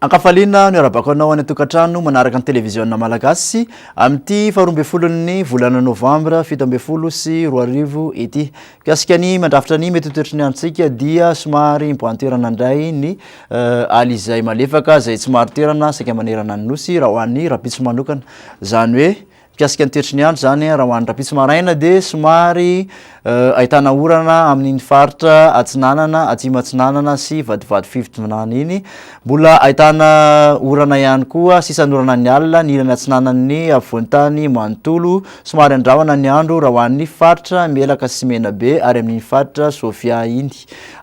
Ankafaliana ny arabako anao any an-tokantrano manaraka ny televiziona malagasy amin'ity faharoa ambin'ny folon'ny volana novambra fito ambin'ny folo sy roa arivo ity. Mikasika ny mandrafitra ny mety ho toetry ny androntsika dia somary miboahan-toerana indray ny aly izay malefaka izay tsy maro toerana saika manerana ny Nosy raha ho an'ny rahampitso manokana. Izany hoe mikasika ny toetry ny andro izany raha ho an'ny rahampitso maraina dia somary ahitana orana amin'iny faritra Atsinanana, Atsimo Atsinanana sy vadivady Fivodinana iny. Mbola ahitana orana ihany koa sisan'orana ny alina ny ilany atsinanan'ny afovoan-tany manontolo Somary andrahona ny andro raha ho an'ny faritra Melaka sy Menabe ary amin'iny faritra Sofia iny,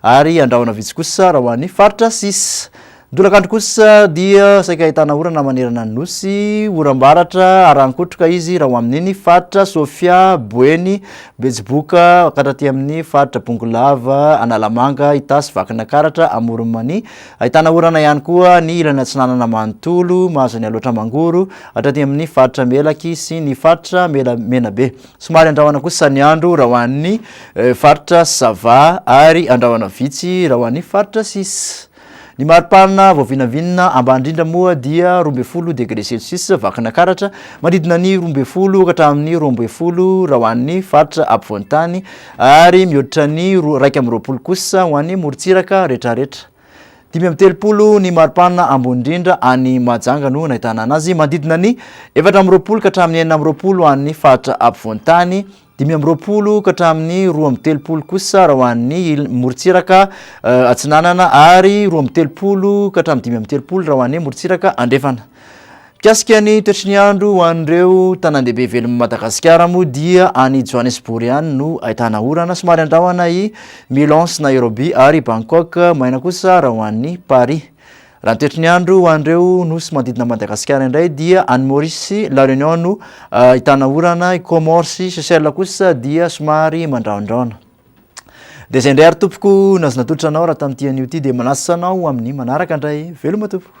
ary andrahona vitsy kosa raha ho an'ny faritra sisa. Ny tolakandro kosa dia saika ahitana orana manerana ny Nosy, oram-baratra arahan-kotroka izy raha ho amin'iny faritra Sofia, Boeny, Betsiboka, hankatra aty amin'ny faritra Bongolava, Analamanga, Itasy, Vakinankaratra, Amoron'i Mania. Ahitana orana ihany koa ny ilany atsinanana manontolo, Mahazanialoatra, Mangoro, Hatraty amin'ny faritra Melaky sy ny faritra Mela Menabe. Somary andrahona kosa ny andro raha ho an'ny eh, faritra Sava ary andrahona vitsy raha ho an'ny faritra Sis. Ny maripanina vao vinavinina ambany indrindra moa dia roa ambin'ny folo degré celsius vakana karatra manodidina ny roa ambin'ny folo ka hatramin'ny roa ambin'ny folo raha ho an'ny faritra apovoan-tany ary mihoatra ny roa- iraika amby roapolo kosa ho an'ny morontsiraka rehetrarehetra. Dimy amby telopolo ny maripana ambony indrindra any Mahajanga no nahitana anazy. Manodidina ny efatra amby roapolo ka hatramin'ny enina amby roapolo any faritra ampovoan-tany, dimy amby roapolo ka hatramin'ny roa amby telopolo kosa raha ho an'ny morontsiraka eh, atsinanana ary roa amby telopolo ka hatramin'ny dimy amby telopolo raha ho an'ny morontsiraka andrefana. Mikasika ny toetry ny andro ho an'ireo tanàndehibe velon'i Madagasikara moa dia any Johannesbourg ihany no ahitana orana somary andrahona i Milan sy Nairobi ary i Bangkok maina kosa raha ho an'i Paris. Raha ny toetry ny andro ho an'ireo nosy manodidina an'i Madagasikara indray dia any Maurice sy La Réunion no ahitana orana, i Comores sy Seychelles kosa dia somary mandrahondrahona. Dia izay indray ary tompoko no azo natolotra anao raha tamin'ity anio ity dia manasa anao ho amin'ny manaraka indray. Veloma tompoko!